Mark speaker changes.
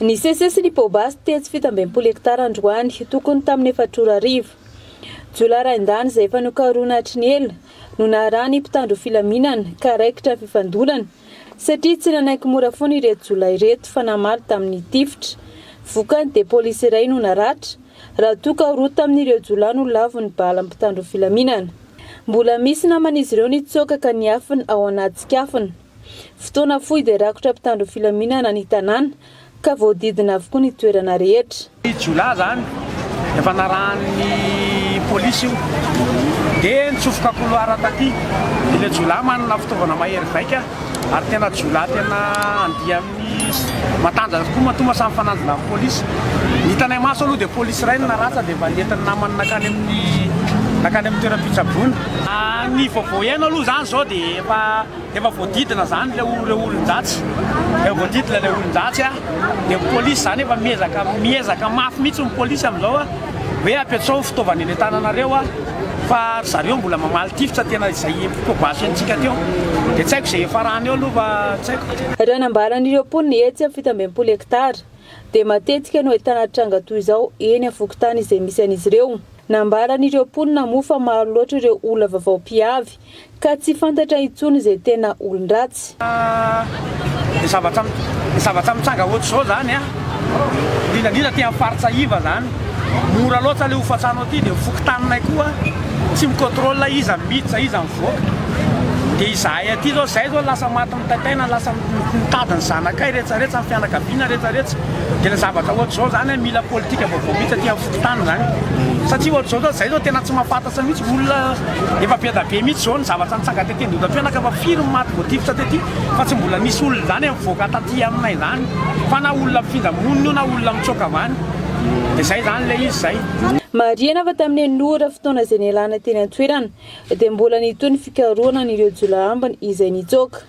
Speaker 1: Ny Sese sy ny Pobasy tetsy fito ambin'ny folo hektara androany, tokony tamin'ny efatra ora hariva. Jiolahy rain-dahiny izay efa nokarohina hatry ny ela no naharahan'ny mpitandro ny filaminana ka raikitra ny fifandonana satria tsy nanaiky mora foana ireto jiolahy ireto fa namaly tamin'ny tifitra. Vokany dia polisy iray no naratra raha toa ka roa tamin'ireo jiolahy no lavon'ny balan'ny mpitandro ny filaminana. Mbola misy naman'izy ireo nitsoaka ka niafina ao anaty tsikafona. Fotoana fohy dia rakotra mpitandro ny filaminana ny tanàna ka voadidina avokoa ny toerana rehetra. Jiolahy izany,
Speaker 2: efa narahan'ny polisy io dia nitsofoka couloir taty. Ilay jiolahy manana fitaovana mahery vaika ary tena jiolahy tena andia amin'ny matanjaka tokoa matoa mba samy mifanandrina amin'ny polisy. Ny hitanay maso aloha dia polisy iray no naratra dia efa nentin'ny namany nankany amin'ny nankany amin'ny toeram-pitsaboana. Ny vaovao iaino aloha izany izao dia efa. Efa voadidina izany ilay ireo olon-dratsy, efa voadidina ilay olon-dratsy a, dia ny polisy izany efa miezaka miezaka mafy mihitsy ny polisy amin'izao a, hoe ampiantsao ny fitaovana eny an-tananareo a, fa ry zareo mbola mamaly tifitra tena izay probationtsika teo, dia tsy haiko izay hiafarany eo aloha fa tsy haiko. Raha ny ambaran'ireo mponina
Speaker 1: etsy amin'ny fito amby enimpolo hektara dia matetika no ahitana tranga toy izao eny amin'ny fokontany izay misy an'izy ireo. Nambaran'ireo mponina moa fa maro loatra ireo olona vaovao mpiavy Ka tsy fantatra intsony izay tena olon-dratsy.
Speaker 2: Ny zavatra ny zavatra mitranga ohatr'izao zany an, indrindra indrindra aty amin'ny faritra iva zany, mora loatra le hofan-trano aty dia ny fokontaninay koa tsy mi-contrôle iza no miditra iza mivoaka, dia izahay aty zao zay zao lasa maty mitaitaina lasa mitady ny zanakay rehetra rehetra ny fianakaviana rehetra rehetra dia le zavatra ohatr'izao zany an mila politika vaovao mihitsy aty amin'ny fokontany zany satria ohatr'izao zao zay zao tena tsy mahafantatra mihitsy olona Efa beda be mitsy zao ny zavatra nitsanga tety Andohatapenaka fa firy ny maty voatifitra tety fa tsy mbola nisy olona zany mivoaka taty aminay zany fa na olona mifindra monina io na olona mitsoaka avy any de zay zany le izy zay. Marihana fa
Speaker 1: tamin'ny enina ora fotoana izay nialana teny an-toerana dia mbola nitohy ny fikarohana an'ireo jiolahy ambiny izay nitsoaka.